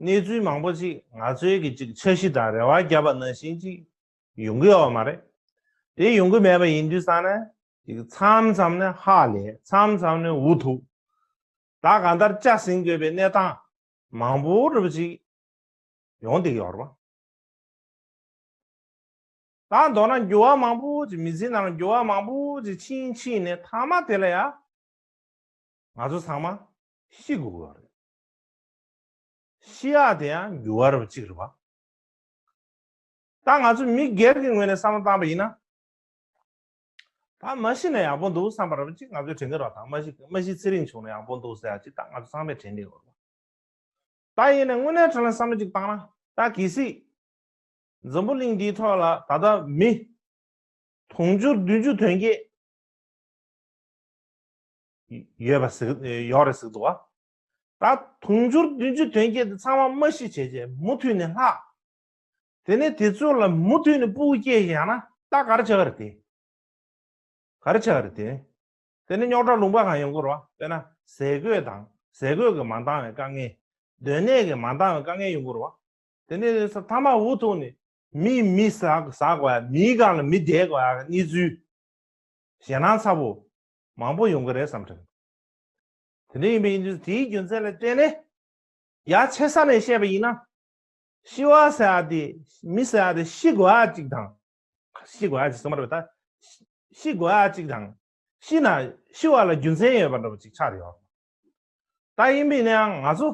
གནས་ཚུལ་མང་པོ་ཞིག་ང་ཚོའི་གི་ཅིག་འཆར་གཞི་དང་རེ་བ་བརྒྱབ་པ་ནང་བཞིན་ཅིག་ཡོང་གི་ཡོད་པ་མ་རེད། དེ་ཡོང་གི་མེད་པ་ཡིན་དུས་ས་ནས་ཅིག་མཚམས་མཚམས་ནས་ཧ་ལས་མཚམས་མཚམས་ནས་འུ་ཐུག་དང་གང་ལྟར་ལྕགས་ཟིན་དགོས་པའི་གནས་སྟངས་མང་པོ་རེ་བ་ཅིག་ཡོང་སྡིག་ཡོད་རེད། དང་མདོར་ན་འགྱུར་བ་མང་པོ་ཅིག་མི་ཚེའི་ནང་འགྱུར་བ་མང་པོ་ཅིག་ཕྱིན་ཕྱིན་ནས་མཐའ་མ་དེ་ལ་ཡང་ང་ཚོ་ཚང་མ་ཤི་དགོས་ཀྱི་ཡོད་རེད། ཤི་ཡག་དེ་ཡང་འགྱུར་བ་རབ་གཅིག་རེད་པ། ད་ང་ཚོ་མི་སྒེར་གྱི་ངོས་ནས་བསམ་བློ་བཏང་བ་ཡིན་ན། ད་མ་ཤི་ན་ཡག་པོ་འདུག་བསམ་པ་རབ་གཅིག་ང་ཚོའི་དྲན་གྱི་རོགས་དང་མ་ཤི་མ་ཤི་ཚེ་རིང་བྱུང་ན་ཡག་པོ་འདུག་ཟེར་ཡག་གཅིག་ད་ང་ཚོ་ཚང་མས་དྲན་གྱི་ཡོད་པ། ད་ཡིན་ནས་དངོས་གནས་དྲན་ལ་བསམ་བློ་གཅིག་བཏང་ན་ད་གི་སྲིད། འཛམ་བུ་གླིང་འདིའི་ཐོག་ལ་ད་ལྟ་མི། དུང་ཕྱུར་བདུན་ཅུ་དོན་བརྒྱད། ཡོད་པ་ཡོག་རེད་ཟིག་འདུག་བ། ད་དུང་འབྱོར་བདུན་ཅུ་དོན་བརྒྱད་དེ་ཚང་མ་མ་ཤི་བྱས་རྗེས་མུ་མཐུད་ནས་ལྷག། དེ་ནས་དེ་ཚོ་ལ་མུ་མཐུད་ནས་སྤུ་གུ་སྐྱེས་ཤིང་ཡང་ན་རྟ་གར་བྱ་བ་རེད་དེ། གར་བྱ་བ་རེད་དེ། དེ་ནས་རྙོག་དྲ་ལུང་པ་གང་ཡང་འགོར་བ་དཔེར་ན་ཟས་གོས་དང་ཟས་གོས་ཀྱི་མ་འདང་བའི་དཀའ་ངལ། སྡོད་གནས་ཀྱི་མ་འདང་བའི་དཀའ་ངལ་ཡང་འགོར་བ། དེ་ནས་ས་མཐའ་མ་འུ་ཐུག་ནས་མིས་མི་ཟ་བ་མིའི་སྒང་ལ་མི་བསྡད་བ་གནས་ཚུལ། ཞེད་སྣང་ཚ་བོ་མང་བོ་ཡོང་གི་རེད་བསམ་དྲན། དེ་འདྲ་ཡིན་པའི་ཡིན་དུས་སུ་དེའི་རྒྱུ་མཚན་ལ་བརྟེན་ནས་ཡ་ཆེ་ས་ནས་བཤད་པ་ཡིན་ན། ཤི་བ་ཟེར་བ་དེ་མི་ཟེར་བ་དེ་ཤི་དགོས་ཨ་ཅིག་དང། ཤི་དགོས་ཨ་ཅིག་ཟེར་མ་རེད་པ་ད། ཤི་དགོས་ཨ་ཅིག་དང། ཤི་ན་ཤི་བ་ལ་རྒྱུ་མཚན་ཡོད་པ་འདྲ་པོ་ཅིག་ཆགས་ཡོང། ད་ཡིན་པའི་ན་ཡང་ང་ཚོ།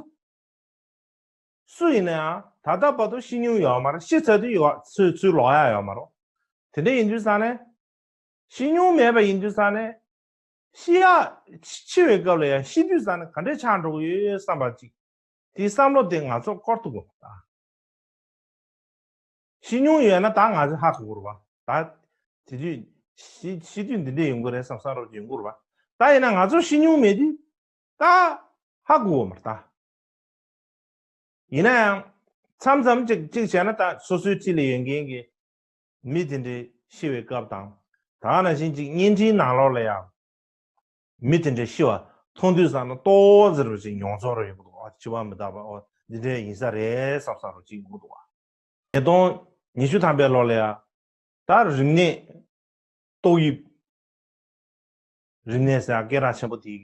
སུ་ཡིན་ན་ཡང་ད་ལྟ་བར་དུ་ཤི་མྱོང་ཡོད་མ་རེད་ཤི་ཚར་དུས་ཡོད་ཚུལ་ཚུལ་ལོག་ཡ་ཡོད་མ་རེད། དེ་འདྲ་ཡིན་དུས་ས་ནས། ཤི་མྱོང་མེད་པ་ཡིན་དུས་ས་ནས། ཤི་ཡ། འཆི་བའི་སྐབས་ལ་ཡང་ཤི་དུས་ས་ནི་ག་འདྲས་ཆགས་འགྲོ་གི་ཡོད་ཡོད་བསམ་པ་ཅིག། དེའི་བསམ་བློ་དེ་ང་ཚོར་བསྐོར་ཐུབ་དགོས་པ་དང། ཤི་མྱོང་ཡོད་ན་ད་ང་ཚོས་ཧ་གོ་དགོས་རུ་བ། ད། དེ་དུས། ཤི་དུས་འདི་འདྲས་ཡོང་གི་རེད་བསམ་བསམ་རབ་ཀྱི་ཡོང་གོ་རུ་བ། ད་ཡིན་ན་ང་ཚོར་ཤི་མྱོང་མེད་དུས། ད། ཧ་གོ་དགོས་མར་ད། ཡིན་ན་ཡང། མཚམས་མཚམས་ཅིག་ཅིག་བྱས་ན་ད་སོ་སོའི་འཁྲིས་ལས་ཡོད་མཁན་གྱི། མི་དེ་འདྲའི་ཤི་བའི་སྐབས་དང། ད་ང་ན་བཞིན་ཅིག་བརྙན་འཕྲིན་ནང་ལོགས་ལ་ཡང། མི་དེ་འདྲའི་ཤི་བ་མཐོང་དུས་བསམ་ན་ལྟོ་བོ་ཟེར་བ་ཅིག་མྱོང་ཚོར་རོ་ཡོང་གི་འདུག་ཨ་ཅི་བ་མི་དག་པ་ཨོ་འདི་འདྲའི་ཡིན་ས་རེད་བསམ་བསམ་རོ་ཅིག་ཡོང་གི་འདུག་བ། ཉིས་སྟོང་ཉི་ཤུ་ཐམ་པའི་ལོགས་ལ་ཡང། ད་རིམས་ནད། ཏོག་དབྱིབས། རིམས་ནད་ཟེར་ཡང་སྐད་གྲགས་ཆེན་པོ་དེ།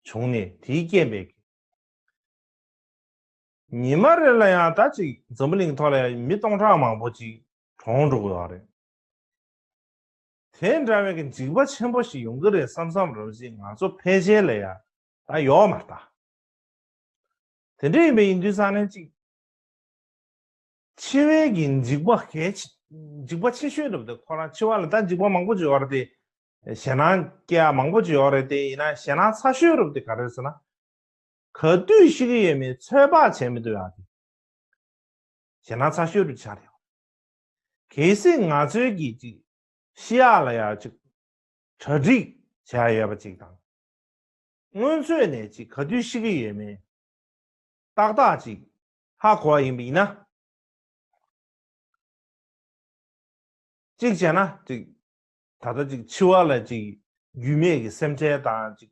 བྱུང་ནས་དེའི་རྐྱེན་པས། ཉི་མ་རེ་ལ་ཡང་ད་ཅིག་འཛམ་བུ་གླིང་ཐོག་ལ་ཡང་མི་སྟོང་ཕྲག་མང་པོ་ཅིག་གྲོངས་འགྲོ་གི་ཡོད་རེད། དེ་འདྲ་བའི་གི་འཇིགས་པ་ཆེན་པོ་ཞིག་ཡོང་གི་རེད་བསམ་བསམ་རང་བཞིན་ང་ཚོ་ཕལ་ཆེར་ལ་ཡང་ད་ཡོད་མ་རྟགས། དེ་འདྲ་ཡིན་པའི་ཡིན་དུས་ས་གནས་གཅིག་འཆི་བའི་གི་འཇིགས་པ་གལ་ཆེ་འཇིགས་པ་ཆེ་ཤོས་འདྲ་བ་དེ་ཁོ་རང་འཆི་བ་ལ་ད་འཇིགས་པ་མང་པོ་ཅིག་ཡོད་རེད་དེ། ཞེད་སྣང་སྐྱེ་བ་མང་པོ་ཅིག་ཡོད་རེད་དེ་ཡིན་ན་ཞེད་སྣང་ཚ་ཤོས་རུ་དེ་ག་རེ་ཟེར་ན། ག་དུས་ཤི་གི་ཡོད་མེད་ཚོད་དཔག་བྱེད་མི་ཐུབ་ཡག་གི། བྱས་ན་ཚ་ཤོས་རུ་ཆགས་ཡོང། གལ་སྲིད་ང་ཚོའི་གིས་ཅིག་ཤི་ཡ་ལ་ཡ་ཅིག་གྲ་སྒྲིག་བྱས་ཡ་ཡོད་པ་ཅིག་དང། སྔོན་ཚོད་ནས་ཅིག་ག་དུས་ཤི་གི་ཡོད་མེད་ཏག་ཏག་ཅིག་ཧ་གོ་བ་ཡིན་པ་ཡིན་ན། ཅིག་བྱས་ན་ཅིག་ད་ལྟ་ཅིག་འཆི་བ་ལ་ཅིག་རྒྱུས་མེད་གི་སེམས་ཁྲལ་དང་ཅིག་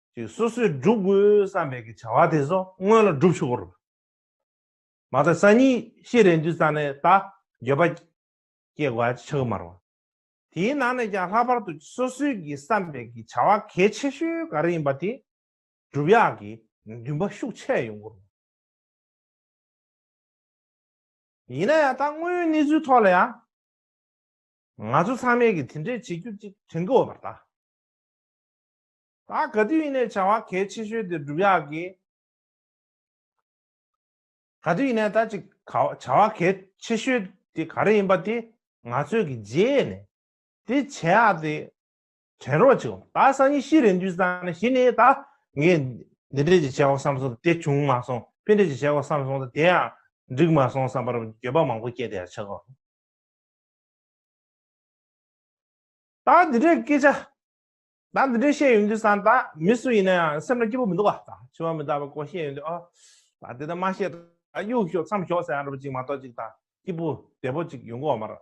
ཅིག་སོ་སོས་བསྒྲུབ་དགོས་བསམ་པའི་བྱ་བ་དེ་སོ་སྔོན་ལ་བསྒྲུབ་ཆོག་རུང། མ་མཐའ་ས་གཉིས་ཤེས་རན་དུས་རྩ་ནས་ད་འགྱོད་པ་སྐྱེ་དགོས་ཨ་ཅེ་ཆགས་ཀྱི་མ་རུང། དེའི་ནང་ནས་ཀྱང་ལྷག་པར་དུ་ཅིག་སོ་སོས་ཀྱི་བསམ་པའི་བྱ་བ་གལ་ཆེ་ཤོས་ག་རེ་ཡིན་པ་དེ་བསྒྲུབ་ཡག་གི་འདུན་པ་ཤུགས་ཆེ་ཡོང་གི་རུང། ཡིན་ན་ཡང་ད་དངོས་ཡོད་གནས་ཚུལ་ཐོག་ལ་ཡང། ང་ཚོ་ཚང་མས་ཀྱི་དེ་འདྲས་བྱེད་རྒྱུ་ཅིག་དྲན་གི་འོས་པར་གདའ། ད་ག་དུས་ཡིན་ནའི་བྱ་བ་གལ་ཆེ་ཤོས་དེ་སྒྲུབ་ཡག་གི། ག་དུས་ཡིན་ནའི་ད་ཅིག་བྱ་བ་གལ་ཆེ་ཤོས་དེ་ག་རེ་ཡིན་པ་དེ་ང་ཚོས་གི་རྗེས་ནས་དེ་བྱེད་ཡག་དེ་དྲན་རོགས་བྱེད། ད་སང་ཉིན་ཤི་རེ་འདུས་ས་ནི་ཤི་ནའི་ད་ངས་འདི་འདྲས་ཀྱི་བྱས་བ་བསམ་སོང་དེ་བྱུང་མ་སོང་ཕན་འབྲས་ཀྱི་བྱས་བ་བསམ་སོང་ད་དེ་ཡང་འགྲིག་མ་སོང་བསམ་པར་འགྱོད་པ་མང་པོ་སྐྱེས་དེ་ཡང་ཆགས་གོ། ད་འདི་འདྲས་སྐད་ཆ་ད་འདི་འདྲའི་ཤེས་ཡོན་དུས་སང་ད་མི་སུ་ཡིན་ན་ཡང་སེམས་ལ་སྐྱིད་པོ་མི་འདུག་ག་ད་ཆུ་བ་མི་རྟག་པ་ཀོ་ཤེས་ཡོན་དུས་ཨ་ད་དེ་ད་མ་ཤེས་ད་གཡུག་ཞོག་མཚམས་ཞོག་ཟེར་ཡང་རུ་པ་ཅིག་མ་གཏོགས་ཅིག་ད་སྐྱིད་པོ་བདེ་པོ་ཅིག་ཡོང་གི་འོ་མ་རེད་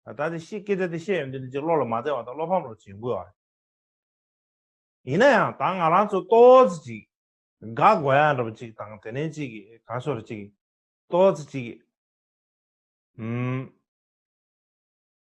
ད་ད་དེ་ཤེས་སྐད་ཆ་དེ་ཤེས་ཡོན་དུས་འདི་ཅིག་བློ་ལ་མ་བདེ་བ་ད་བློ་ཕམ་རོགས་ཅིག་ཡོང་གི་ཨ་ཡིན་ན་ཡང་ད་ང་རང་ཚོ་ཏོ་ཙི་ཅིག་དགའ་དགོས་ཡ་རུ་པ་ཅིག་དང་དེ་ནས་ཅིག་ག་ཤོག་རུ་ཅིག་ཏོ་ཙི་ཅིག་ཨུ།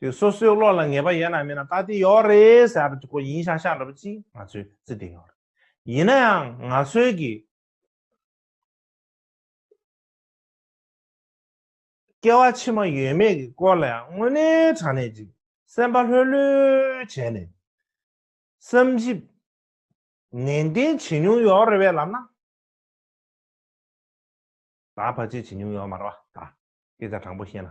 དེ་སོ་སོའི་བློ་ལ་ངེས་པ་ཡོད་ན་མེད་ན་ད་དེ་ཡོད་རེད་ཟེར་ཡ་གོ་ཡིན་ཤག་ཤག་འདྲ་པོ་ཅི་ང་ཚོས་བརྩི་བདེ་ཡོད་རེད་ཡིན་ན་ཡང་ང་ཚོའི་གི་སྐལ་བ་ཕྱི་མ་ཡོད་མེད་ཀྱི་སྐོར་ལ་ཡང་དངོས་གནས་དྲང་གནས་ཅིག་སེམས་པ་ལྷོད་ལྷོད་བྱས་ནས་བསམ་གཞིག་ནན་ཏན་བྱེད་མྱོང་ཡོད་རེད་བས་ལབ་ན་ད་བར་ཆད་བྱེད་མྱོང་ཡོད་མ་རེད་བ་ད་སྐད་ཆ་དྲང་པོ་བཤད་ན་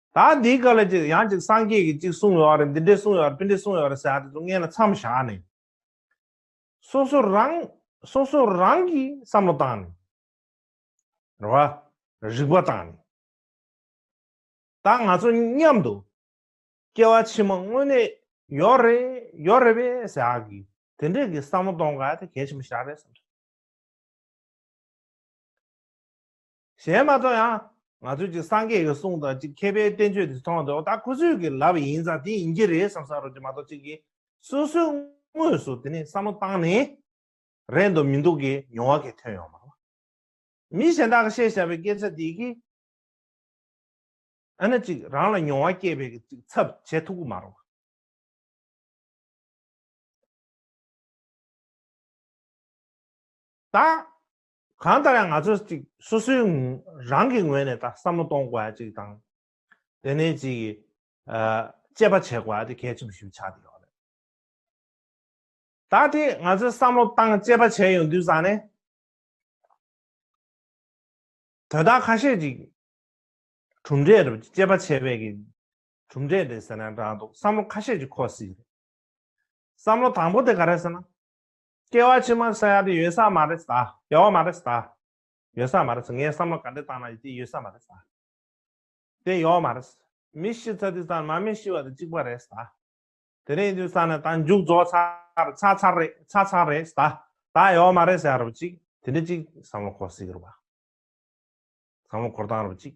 ད་འདིའི་སྐབས་ལ་ཅིག་ཡང་ཅིག་སངས་རྒྱས་ཀྱིས་ཅིག་གསུངས་ཡོད་རེད་འདི་འདྲས་གསུངས་ཡོད་རེད་ཕིན་འདྲས་གསུངས་ཡོད་རེད་ཟེར་ཡག་དེ་ཚོ་མངལ་ན་མཚམས་བཞག་ནས། སོ་སོ་རང། སོ་སོ་རང་གིས་བསམ་བློ་བཏང་ནས། རེ་བ། རིག་པ་བཏང་ནས། ད་ང་ཚོ་མཉམ་དུ། སྐྱེ་བ་ཕྱི་མ་དངོས་གནས་ཡོད་རེད་ཡོད་རེད་པས་ཟེར་ཡག་གི་དེ་འདྲས་ཀྱི་བསམ་བློ་གཏོང་དགའ་དེ་གལ་ཆེན་པོ་ཞག་རེད་བསམ། གཞན་མ་མཐོང་ཡང། ང་ཚོས་གཅིག་སངས་རྒྱས་ཀྱི་གསུང་དང་གཅིག་མཁས་པའི་བསྟན་བཅོས་དེ་མཐོང་འདུག་ད་ཁོ་ཚོས་ཀྱི་ལབ་ཡིན་ཙང་དེ་ཡིན་གྱི་རེད་བསམ་ས་རོགས་ཀྱི་མ་གཏོགས་གཅིག་གིས་སོ་སོའི་དངོས་སུ་དེ་ནས་བསམ་བློ་བཏང་ནས་རེད་འདུག་མི་འདུག་གི་མྱོང་བ་གས་ཐོན་ཡོང་མ་གཏོགས། མི་གཞན་དག་གི་བཤད་བཞག་པའི་སྐད་ཆ་དེ་གིས་ཨ་ན་གཅིག་རང་ལ་མྱོང་བ་སྐྱེས་པའི་གི་ཅིག་ཚབ་བྱེད་ཐུག་གི་མ་རོགས། ད། གང་ལྟར་ཡང་ང་ཚོས་ཅིག་སོ་སོའི་རང་གི་ངོས་ནས་ད་བསམ་བློ་གཏོང་དགོས་པ་ཅིག་དང། དེ་ནས་ཅིག་དཔྱད་པ་བྱེད་དགོས་པ་དེ་གལ་ཆེན་པོ་ཞིག་ཏུ་ཆགས་བསྡད་ཡོད་རེད། ད་དེ་ང་ཚོས་བསམ་བློ་བཏང་དཔྱད་པ་བྱས་ཡོང་དུས་བཟང་ནས། དོན་དག་ཁ་ཤས་ཅིག་གྲུབ་འབྲས་རེད་དཔྱད་པ་བྱས་པའི་གི་གྲུབ་འབྲས་རེད་ཟེར་ན་འདྲ་འདུག་བསམ་བློ་ཁ་ཤས་ཅིག་འཁོར་སྲིད་རེད། བསམ་བློ་དང་པོ་དེ་ག་རེད་ཟེར་ན། སྐྱེ་བ་ཕྱི་མར་ས་ཡ་དེ་ཡོད་ས་མ་རེད་ད། ཡོད་བ་མ་རེད་ད། ཡོད་ས་མ་རེད་ངས་བསམ་བློ་ག་འདྲས་བཏང་ན་ཡོད་དེ་ཡོད་ས་མ་རེད་ད། དེ་ཡོད་བ་མ་རེད། མི་ཤི་ཚ་དུས་ཚང་མ་མི་ཤི་བ་དེ་གཅིག་པ་རེད་ད། དེ་རིང་དུས་ཚང་ནས་ད་མཇུག་རྫོགས་ཚར་ཚར་ཚར་རེད་ཚར་ཚར་རེད་ད། ད་ཡོད་བ་མ་རེད་ཟེར་ཡ་རུ་གཅིག་དེ་འདྲས་གཅིག་བསམ་བློ་འཁོར་སྲིད་གི་རུ་བ། བསམ་བློ་འཁོར་སྟངས་རུ་གཅིག།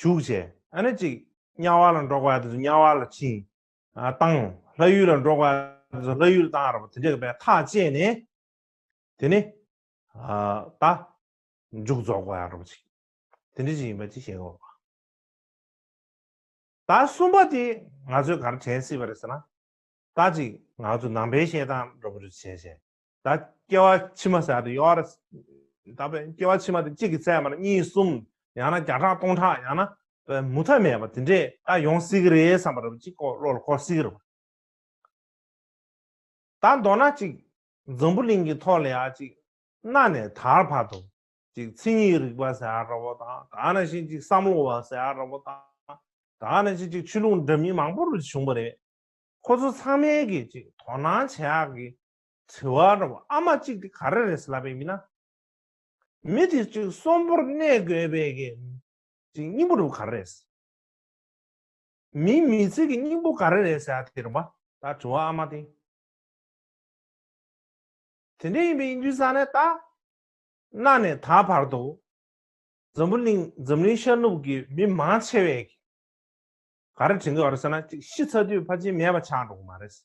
ཞུགས་བྱས། ཨ་ནི་གཅིག། དམྱལ་བ་ལ་འགྲོགས་པ་དེ་ཚོ་དམྱལ་བ་ལ་བྱིན། བཏང། ལྷ་ཡུལ་ལ་འགྲོགས་པ་དེ་ཚོ་ལྷ་ཡུལ་ལ་བཏང་ར་བ་དེ་འདྲའི་བའི་ཐག་བཅད་ནས། དེ་ནི། ད། མཇུག་རྫོགས་པ་ར་བ་ཅིག། དེ་འདྲ་ཅིག་ཡིན་པ་ཅིག་ཤེས་དགོས་པ། ད་གསུམ་པ་དེ་ང་ཚོས་ག་རེ་དྲན་སྲིད་པ་རེད་ཟེར་ན། ད་གཅིག་ང་ཚོས་ནང་པའི་བཤད་སྟངས་ར་བ་རུ་བྱས་བྱས། ད་སྐྱེ་བ་ཕྱི་མ་ཟད་དུ་ཡོད། ད་པའི་སྐྱེ་བ་ཕྱི་མ་དེ་གཅིག་གིས་བསད་པ་ན་གཉིས་གསུམ་ཡང་ན་བརྒྱ་ཕྲག་སྟོང་ཕྲག་ཡང་ན་པའི་མུ་མཐའ་མེད་པ་དེ་འདྲས་ད་ཡོང་སྲིད་ཀྱི་རེད་བསམ་པ་རེད་གཅིག་ཀོ་བློ་ལ་འཁོར་སྲིད་ཀྱི་རེད། ད་མདོར་ན་གཅིག་འཛམ་བུ་གླིང་གི་ཐོག་ལ་ཡང་གཅིག་གནའ་ནས་དར་བར་དུ་གཅིག་མཚན་ཉིད་རིག་པ་ཟེར་ཡ་ར་བོ་དང་དར་ནང་བཞིན་གཅིག་བསམ་བློ་བ་ཟེར་ཡ་ར་བོ་དང་དར་ནང་བཞིན་གཅིག་ཆོས་ལུགས་འདྲ་མིན་མང་པོ་རུ་བྱུང་བ་རེད། ཁོ་ཚོ་ཚང་མས་གིས་གཅིག་དོ་སྣང་བྱེད་ཡག་གི་དྲི་བ། ར་བ་ཨ་མ་གཅིག་དེ་ག་རེ་རེད་སེ་ལ་པའི་མི་ན། མི་དེ་གཅིག་གསོན་པོར་གནས་དགོས་པའི་གི་གཅིག་སྙིང་པོ་རུ་ག་རེ་རེད་སེ། མིའི་མི་ཚེ་གི་སྙིང་པོ་ག་རེ་རེད་སེ་ཨ་དེ་རུ་མ། ད་དྲི་བ་ཨ་མ་དེ། དེ་འདྲ་ཡིན་པའི་ཡིན་དུས་ས་ནས་ད། ན་ནས་ད་བར་དུ། འཛམ་བུ་གླིང་འཛམ་གླིང་ཤར་ནུབ་ཀྱི་མི་མང་ཆེ་བས་གི་ག་རེ་དྲན་གི་ཨ་རུ་སེ་ན་གཅིག་ཤི་ཚར་དུས་ཕ་ཆིན་མེད་པ་ཆགས་འགྲོ་གི་མ་རེད་སེ།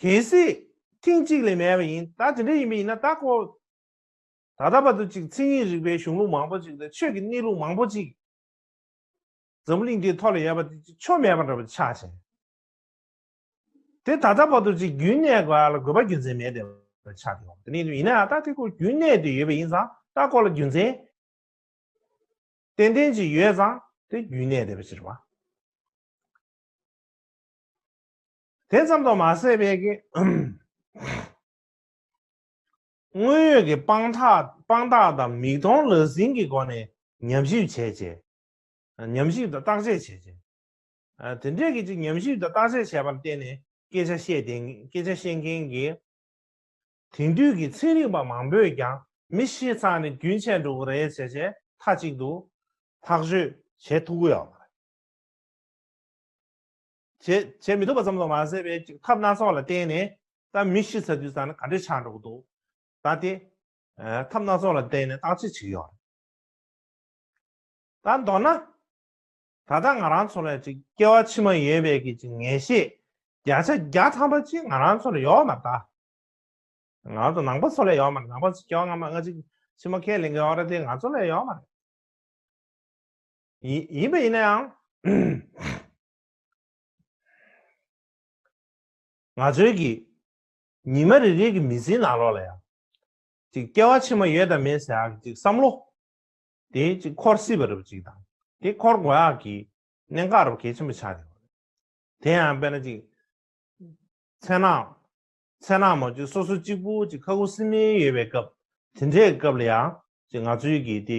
གལ་སྲིད། ཐེངས་གཅིག་ལས་མེད་པ་ཡིན། ད་དེ་འདྲ་ཡིན་པ་ཡིན་ན་ད་ཁོ། ད་ལྟ་བར་དུ་ཅིག་མཚན་ཉིད་རིག་པའི་གཞུང་ལུགས་མང་པོ་ཅིག་དང་ཆོས་ཀྱི་གནས་ལུགས་མང་པོ་ཅིག། འཛམ་བུ་གླིང་འདིའི་ཐོག་ལ་ཡོད་པ་དེ་ཅིག་ཆོ་མེད་པ་འདྲ་བོ་ཆགས་ཤིང། དེ་ད་ལྟ་བར་དུ་ཅིག་རྒྱུན་གནས་དགོས་ཨ་ལ་དགོས་པ་རྒྱུ་མཚན་མེད་བསྡད་པ་ཆགས་ཏེ་འོང། དེ་ནས་ཡིན་ན་ད་དེ་ཁོ་རྒྱུན་གནས་དུ་ཡོད་པ་ཡིན་ཙང་ད་ཁོ་ལ་རྒྱུ་མཚན། ཏན་ཏན་ཅིག་ཡོད་ཙང་དེ་རྒྱུན་གནས་བསྡད་པ་ཕྱིར་བ། དེ་ཙམ་དུ་མ་ཟད་པའི་དངོས་ཡོད་ཀྱི་དཔང་རྟགས་དང་མིག་མཐོང་ལག་ཟིན་གྱི་སྒོ་ནས་ཉམས་ཞིབ་བྱས་རྗེས། ཉམས་ཞིབ་དང་བརྟག་དཔྱད་བྱས་རྗེས། དེ་འབྲེལ་གྱི་ཅིག་ཉམས་ཞིབ་དང་བརྟག་དཔྱད་བྱས་པར་བརྟེན་ནས་སྐད་ཆ་བཤད་མཁན་གྱི་དེང་དུས་ཀྱི་ཚན་རིག་པ་མང་པོས་ཀྱང་མི་ཤེས་ཚང་ནི་རྒྱུན་ཆད་འགྲོ་གི་རེད་བྱས་རྗེས་མཐའ་གཅིག་ཏུ་ཐག་གཅོད་བྱེད་ཐུག་གི་ཡོད་པ་རེད། བྱེད་མི་ཐུབ་པ་ཙམ་དུ་མ་ཟད་པའི་ཅིག་ཐབས་སྣ་ཚོགས་ལ་བརྟེན་ནས་ད་མི་ཤི་ཚར་དུས་ཙམ་ན་ག་འདྲའི་ཆགས་འགྲོ་གི་འདུག་ད་དེ། ཐབས་སྣ་ཚོགས་ལ་བརྟེན་ནས་བརྟག་དཔྱད་བྱེད་ཀྱི་ཡོད་རེད། ད་མདོར་ན། ད་ལྟ་ང་རང་ཚོ་ལ་ཅིག་སྐྱེ་བ་ཕྱི་མ་ཡོད་པའི་གི་ཅིག་ངེས་ཤེས་བརྒྱ་ཆ་བརྒྱ་ཐམ་པ་ཅིག་ང་རང་ཚོ་ལ་ཡོད་མ་གཏགས། ང་རང་ཚོ་ནང་པ་ཚོ་ལ་ཡོད་མ་རེད་ནང་པ་ཚོ་སྐྱེ་བ་སྔ་མ་སྔ་ཅིག་ཕྱི་མ་ཁས་ལེན་གི་ཡོད་རེད་དེ་ང་ཚོ་ལ་ཡོད་མ་རེད། ཡིན་པ་ཡིན་ན་ཡང། ང་ཚོའི་གི། ཉི་མ་རེ་རེའི་གི་མི་ཚེའི་ནང་ལོགས་ལ་ཡང། ཅིག་སྐྱེ་བ་ཕྱི་མ་ཡོད་དམ་མེད་ཟེར་ཡག་ཅིག་བསམ་བློ། དེ་ཅིག་འཁོར་སྲིད་པ་རུ་ཅིག་དང་དེ་འཁོར་དགོས་ཡག་གི། གནད་འགག་རུ་གལ་ཆེན་པོ་ཆགས་ཡོད། དེ་ཡང་དཔེར་ན་ཅིག། མཚན་ནག། མཚན་ནག་མོ་ཅིག་སོ་སོ་གཅིག་པུ་ཅིག་ཁ་ཁུ་སིམ་མེར་ཡོད་པའི་སྐབས་དེ་འདྲའི་སྐབས་ལ་ཡང་ཅིག་ང་ཚོའི་གི་དེ།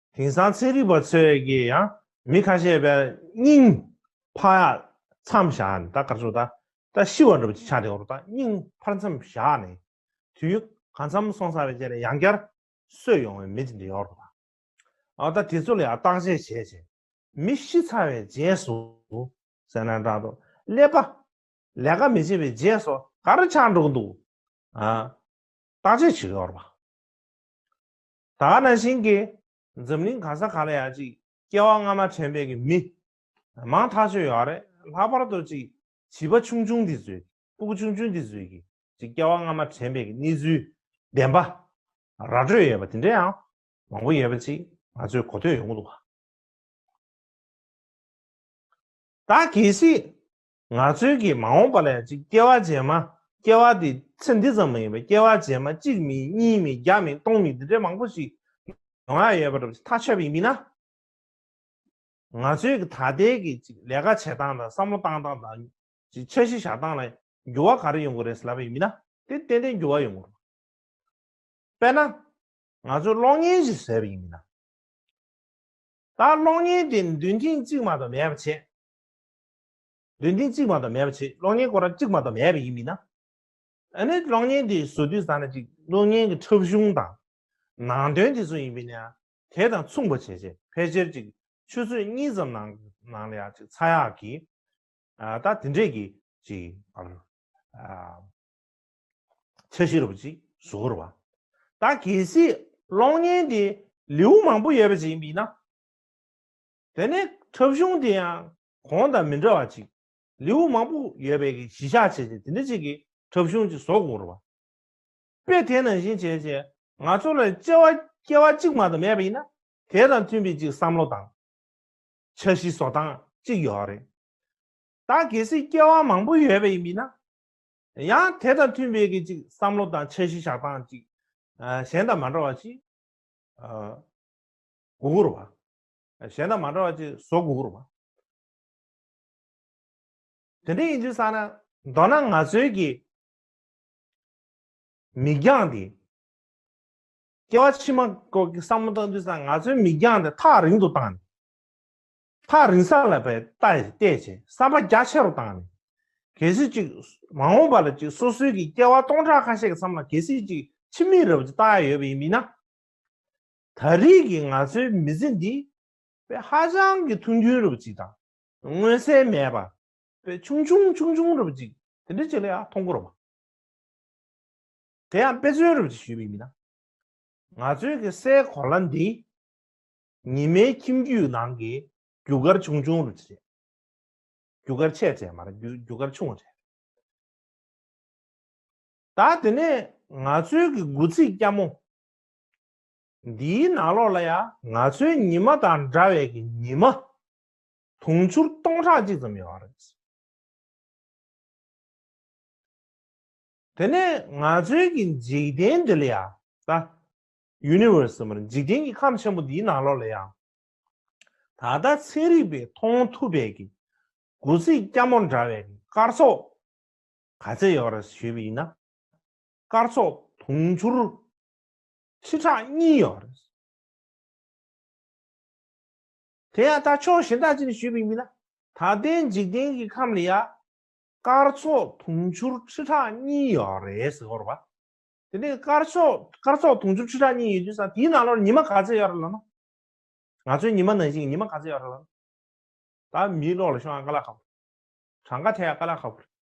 དེང་སང་ཚན་རིག་པ་ཚོས་ཀྱིས་ཡང་མི་ཁ་ཤས་པའི་སྙིང། ཕག་ཡག། མཚམས་བཞག་ནས་ད་གར་སོང་ད་ད་ཤི་བར་འགྲོ་བ་ཅིག་ཆགས་བསྡད་འོང་རོགས་ད་སྙིང་ཕར་མཚམས་བཞག་ནས། དུས་ཡུན་གང་འཚམས་སོང་ས་བས་རྗེས་ནས་ཡང་བསྐྱར། གསོད་ཡོང་བའི་མི་ཅིག་འདི་ཡོང་རོགས་ད། ཨ་ད་དེ་ཚོ་ལ་ཡང་བརྟག་དཔྱད་བྱས་བྱས། མི་ཤི་ཚར་བའི་རྗེས་སུ། སེར་སྣ་འདྲ་འདྲ། ཀླད་པ། ལས་ཀ་མི་བྱེད་པའི་རྗེས་སུ་ག་རེ་ཆགས་འགྲོ་གི་འདུག་ཨ། བརྟག་དཔྱད་བྱེད་ཀྱི་ཡོང་རོགས་ད། ད་ནང་བཞིན་གྱི་འཛམ་གླིང་གང་ས་གང་ལ་ཡང་ཅིག་སྐྱེ་བ་སྔ་མ་དྲན་པའི་གི་མི་མང་ཐག་ཆོད་ཡོད་རེད་ལྷག་པར་དུ་ཅིག་བྱིས་པ་ཆུང་ཆུང་འདི་ཚོས་སྤུ་གུ་ཆུང་ཆུང་འདི་ཚོས་གྱི་ཅིག་སྐྱེ་བ་སྔ་མ་དྲན་པའི་གི་གནས་ཚུལ་བདེན་པ་ར་སྤྲོད་ཡོད་པ་དེ་འདྲ་ཡང་མང་པོ་ཡོད་པ་ཅིག་ང་ཚོས་གོ་ཐོས་ཡོང་གི་འདུག་ག། ད་གལ་སྲིད་ནག་ཚོན་གྱིས་མ་འོངས་པ་ལ་ཡང་གཅིག་སྐྱེ་བ་རྗེས་མ། སྐྱེ་བ་དེ་ཚེ་འདི་ཙམ་མ་ཡིན་པར་སྐྱེ་བ་རྗེས་མ་གཅིག་མིན་གཉིས་མིན་བརྒྱ་མིན་སྟོང་མིན་འདི་འདྲའི་མང་པོ་ཞིག་ཡོང་ཡ་ཡོད་པ་འདྲ་བ་ཞིག་ཐག་ཆོད་པ་ཡིན་མིན་ན། ནག་ཚོན་གྱིས་ད་ལྟའི་གི་གཅིག་ལས་ཀ་བྱེད་སྟངས་དང་བསམ་བློ་བཏང་སྟངས་དང། གཅིག་འཆར་གཞི་བཞག་སྟངས་ལ་འགྱུར་བ་ག་རེ་ཡོང་གི་རེད་ཟེར་ལབ་པ་ཡིན་མིན་ན། དེ་ཏན་ཏན་འགྱུར་བ་ཡོང་གི་རེད། དཔེར་ན། ང་ཚོས་གློག་བརྙན་ཞིག་བཟོས་པ་ཡིན་མིན་ན། ད་གློག་བརྙན་དེ་འདོན་ཐེངས་གཅིག་མ་གཏོགས་མེད་པ་བྱས། འདོན་ཐེངས་གཅིག་མ་གཏོགས་མེད་པ་ཆེད་གློག་བརྙན་སྐོར་ར་གཅིག་མ་གཏོགས་མེད་པ་ཡིན་མིན་ན། ཨ་ནི་གློག་བརྙན་དེ་བཟོ་དུས་ཟ་ན་ཅིག་གློག་བརྙན་གྱི་འཁྲབ་གཞུང་དང། ནང་དོན་དེ་ཚོ་ཡིན་མིན་ན། དེ་དང་མཚུངས་པ་བྱས་རྗེས་ཕལ་ཆེར་ཅིག་ཆུ་ཚོད་གཉིས་ཙམ་ནང་ནང་ལ་ཡང་ཅིག་ཚ་ཡག་གིས། ད་དེ་འདྲས་ཀྱི་ཅིག་བར། འཆར་གཞི་རུ་པ་ཅིག་བཟོ་དགོས་རུ་བ། ད་གལ་སྲིད་གློག་བརྙན་དེ་ལེའུ་མང་པོ་ཡོད་པ་ཅིག་ཡིན་མིན་ན། དེ་ནས་འཁྲབ་གཞུང་དེ་ཡང་གོང་དང་མི་འདྲ་བ་ཅིག། ལེའུ་མང་པོ་ཡོད་པའི་གཞི་གཞག་བྱས་རྗེས་དེ་འདྲ་ཅིག་གིས་འཁྲབ་གཞུང་ཅིག་བཟོ་དགོས་རུང་བ། དཔེ་དེ་ནང་བཞིན་བྱས་རྗེས་ང་ཚོ་ལ་དཔྱད་བ་སྐྱེ་བ་གཅིག་མ་གཏོགས་མེད་པ་ཡིན་ན་དེ་དང་མཐུན་པའི་ཅིག་བསམ་བློ་དང། འཆར་གཞི་བཟོ་སྟངས་ཅིག་ཡོད་རེད། ད་གལ་སྲིད་སྐྱེ་བ་མང་པོ་ཡོད་པའི་མི་སྣ་ཡང་དེ་དང་མཐུན་པའི་གི་ཅིག་བསམ་བློ་དང་འཆར་གཞི་བཞག་སྟངས་ཅིག་གཞན་དང་མ་འདྲ་བ་ཅིག་དགོས་རུང་བ། གཞན་དང་མ་འདྲ་བ་ཅིག་བཟོ་དགོས་རུང། དེ་འདྲ་ཡིན་དུས་ས་ན་མདོར་ན་ང་ཚོའི་གི་མིག་རྒྱང་དེ། སྐྱེ་བ་ཕྱི་མ་སྐོར་གྱི་བསམ་བློ་བཏང་དུས་ས་ང་ཚོའི་མིག་རྒྱང་དེ་ཐག་རིང་དུ་བཏང་ནས། ཐག་རིང་ས་ལ་བལྟས་བལྟས་བྱས་བསམ་པ་རྒྱ་ཆེ་རུ་བཏང་ནས། གལ་སྲིད་ཅིག་མ་འོངས་པ་ལ་ཅིག་སོ་སོའི་གི་སྐྱེ་བ་སྟོང་ཕྲག་ཁ་ཤས་ཀྱི་མཚམས་ལ་གལ་སྲིད་ཅིག་ཕྱི་མིག་རེ་བ་ཅིག་བལྟ་ཡ་ཡོད་པ་ཡིན་མིན་ན། ད་རེས་ཀྱི་ང་ཚོའི་མི་ཚེ་འདི་དཔེ་ཧ་ཅང་གི་ཐུང་ཐུང་རུབ་ཅིག་དང་མངོན་གསལ་མེད་པ་དཔེ་ཆུང་ཆུང་ཆུང་ཆུང་རུབ་ཅིག་དེ་འདྲ་ཅིག་ལ་ཡང་མཐོང་གོ་རུང་བ། དེ་ཡང་དཔེ་མཚོན་རུབ་ཅིག་ཞུས་པའི་མི་སྣ་ང་ཚོའི་གི་སའི་གོ་ལ་འདི་ཉི་མའི་ཁྱིམ་རྒྱུད་ནང་གི་རྒྱུ་སྐར་ཆུང་ཆུང་རུབ་ཅིག་རེད། རྒྱུ་སྐར་ཆེ་གྲས་མ་རེད་རྒྱུ་སྐར་ཆུང་བ་རེད། ད་དེ་ནས་ང་ཚོའི་གི་དགུ་ཚིགས་སྐྱ་མོ་འདིའི་ནང་ལོགས་ལ་ཡང་ང་ཚོའི་ཉི་མ་དང་འདྲ་བའི་གི་ཉི་མ། དུང་ཕྱུར་སྟོང་ཕྲག་གཅིག་ཙམ་ཡོད་རེད། དེ་ནས་ང་ཚོའི་གི་འཇིག་རྟེན་འདི་ལ་ཡང་ད། Universe། ཟེར་མོད་འཇིག་རྟེན་གི་ཁམས་ཆེན་པོ་འདིའི་ནང་ལོགས་ལ་ཡང། ད་ལྟ་ཚན་རིག་པས་མཐོང་ཐུབ་པའི་གི་དགུ་ཚིགས་སྐྱ་མོ་འདྲ་བའི་གི་སྐར་ཚོགས་ག་ཚད་ཡོད་རེད་ཞུས་པ་ཡིན་ན། སྐར་ཚོགས་དུང་ཕྱུར་ཚུལ་ཁྲག་གཉིས་ཡོད་རེད། དེ་ཡང་ད་ཕྱོགས་གཞན་དག་ཅིག་ནས་ཞུས་པའི་མིན་ན། ད་ལྟའི་འཇིག་རྟེན་གྱི་ཁམས་ལ་ཡང། སྐར་ཚོགས་དུང་ཕྱུར་ཁྲི་ཕྲག་གཉིས་ཡོད་རེད་ཟེར་བར་བ། དེ་ནས་སྐར་ཚོགས་དུང་ཕྱུར་ཁྲི་ཕྲག་གཉིས་ཡོད་དུས་སང་དེའི་ནང་ལོར་ཉི་མ་ག་ཚོད་ཡོད་རེད་ལབ་ན། ང་ཚོའི་ཉི་མ་ནང་བཞིན་གྱི་ཉི་མ་ག་ཚོད་ཡོད་རེད་ལབ་ན། ད་མིའི་ཀློག་ལ་ཤོང་ཡང་དཀའ་ལ་ཁག་པོ་རེད། གྲངས་ཀ་ཐད་ཡང་དཀའ་ལ་ཁག་པོ་རེད།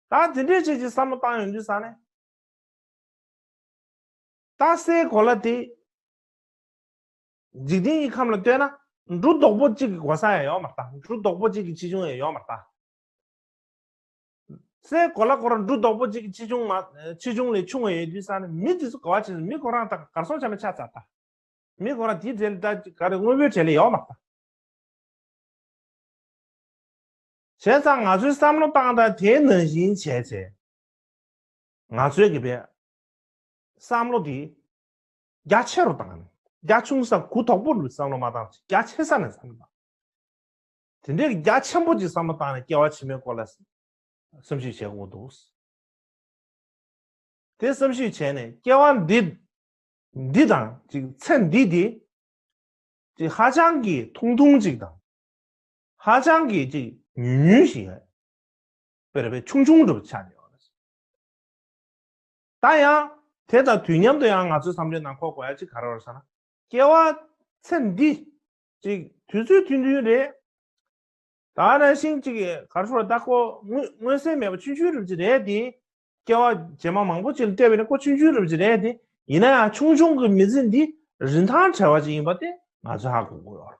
ད་དེ་འདྲའི་ཆེད་ཀྱི་བསམ་བློ་བཏང་ཡོང་དུས་སང་ནས། རྟགས་སའི་གོ་ལ་དེ། འཇིག་རྟེན་གྱི་ཁམས་ལ་ལྟོས་ན། འབྲུ་རྡོག་པོ་གཅིག་གི་གོ་ས་ཡང་ཡོག་མ་རྟགས་འབྲུ་རྡོག་པོ་གཅིག་གི་ཆེ་ཆུང་ཡང་ཡོག་མ་རྟགས། སའི་གོ་ལ་སྐོར་འབྲུ་རྡོག་པོ་གཅིག་གི་ཆེ་ཆུང་མ། ཆེ་ཆུང་ལས་ཆུང་བ་ཡོད་དུས་ས་ནི་མི་དེ་ཚོ་གོ་བ་ཆེ་ཚོ་མི་གོ་རང་རྟགས་གར་སོང་ཆ་མེད་ཆ་ཚ་རྟགས། མི་གོ་རང་དེའི་གྲས་ལས་རྟགས་ཀྱི་ག་རེ་དངོས་པོའི་གྲས་ལས་ཡོག་མ་རྟགས། བྱས་ཙང་ང་ཚོའི་བསམ་བློ་སྟངས་སྟངས་དེའི་ནང་བཞིན་བྱས་བྱས། ང་ཚོའི་གི་བསམ་བློ་དེ་རྒྱ་ཆེ་རུ་བཏང་ནས་རྒྱ་ཆུང་ས་གུ་དོག་པོ་རུ་བསམ་བློ་མ་བཏང་ཞིག་རྒྱ་ཆེ་ས་ནས་བསམ་བློ་བཏང། དེ་འདྲའི་རྒྱ་ཆེན་པོ་ཅིག་བསམ་བློ་བཏང་ནས་སྐྱེ་བ་ཕྱི་མའི་སྐོར་ལ་བསམ་གཞིག་བྱེད་དགོས་འདུག། དེ་བསམ་གཞིག་བྱས་ནས་སྐྱེ་བ་འདི་འདི་དང་ཅིག་ཚེ་འདི་དེ་ཅིག་ཧ་ཅང་གི་ཐུང་ཐུང་ཅིག་དང་ཧ་ཅང་གི་ཅིག་ཉུལ་ཉུལ་ཞིག་རེད། བེར་བའི་ཆུང་ཆུང་གྲུབ་ཆ་རེད། ད་ཡང་དེ་དང་དུས་མཉམ་དུ་ཡང་ང་ཚོའི་བསམ་བློའི་ནང་འཁོར་དགོས་ཡ་གཅིག་ག་རེ་རོ་ཟེར་ན། སྐྱེ་བ་ཚེ་འདི་ཅིག་དུས་ཚོད་མཐུན་མཐུན་རེད། ད་རང་བཞིན་ཅིག་ག་རེ་ཟེར་ན་ད་ཁོ་མངོན་གསལ་མེད་པ་ཆུང་ཆུང་རུབ་ཅིག་རེད་དེ། སྐྱེ་བ་རྗེས་མ་མང་པོ་ཅིག་ལ་བལྟས་པས་ན་ཁོ་ཆུང་ཆུང་རུབ་ཅིག་རེད་དེ། ཡིན་ན་ཡང་ཆུང་ཆུང་གི་མི་ཚེ་འདི་རིན་ཐང་བྲལ་བ་ཅིག་ཡིན་པ་དེ་ང་ཚོས་ཧ་གོ་དགོས་ཡོད་རེད།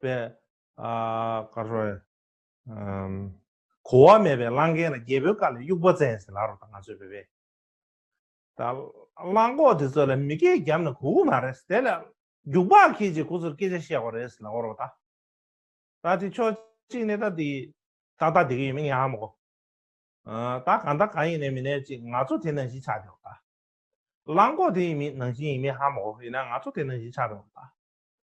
པའི། ཀ་རོ། གོ་བ་མེད་པའི་གླང་རྒན་ལ་རྒྱལ་པོའི་བཀའ་ལས་དབྱུག་པ་བཙན་ཟེར་ལགས་རོགས་དང་ང་ཚོའི་བོད་པའི། ད། གླང་གོག་དེ་ཚོ་ལ་མི་སྐད་རྒྱབ་ན་གོ་གི་མ་རེད། དེ་ལ། རྒྱུག་པ་ཁྱེད་ཀྱིས་ཁོ་ཚོར་སྐད་ཆ་བཤད་གོ་རེད་ལགས་རོགས་ད། ད་དེ་ཕྱོགས་གཅིག་ནས་ད་དེ། ཏག་ཏག་དེ་གི་ཡོད་མེད་ཉག་མོ་གོ། ད་གང་ད་གང་ཡིན་ནས་མི་ནས་ཅིག་ང་ཚོ་དེ་ནང་བཞིན་ཆགས་རོགས་ད། གླང་གོག་དེ་ཡིན་མིན་ནང་བཞིན་ཡིན་མིན་ཧ་མོ་གོ་ཡིན་ན་ང་ཚོ་དེ་ནང་བཞིན་ཆགས་རོགས་ད།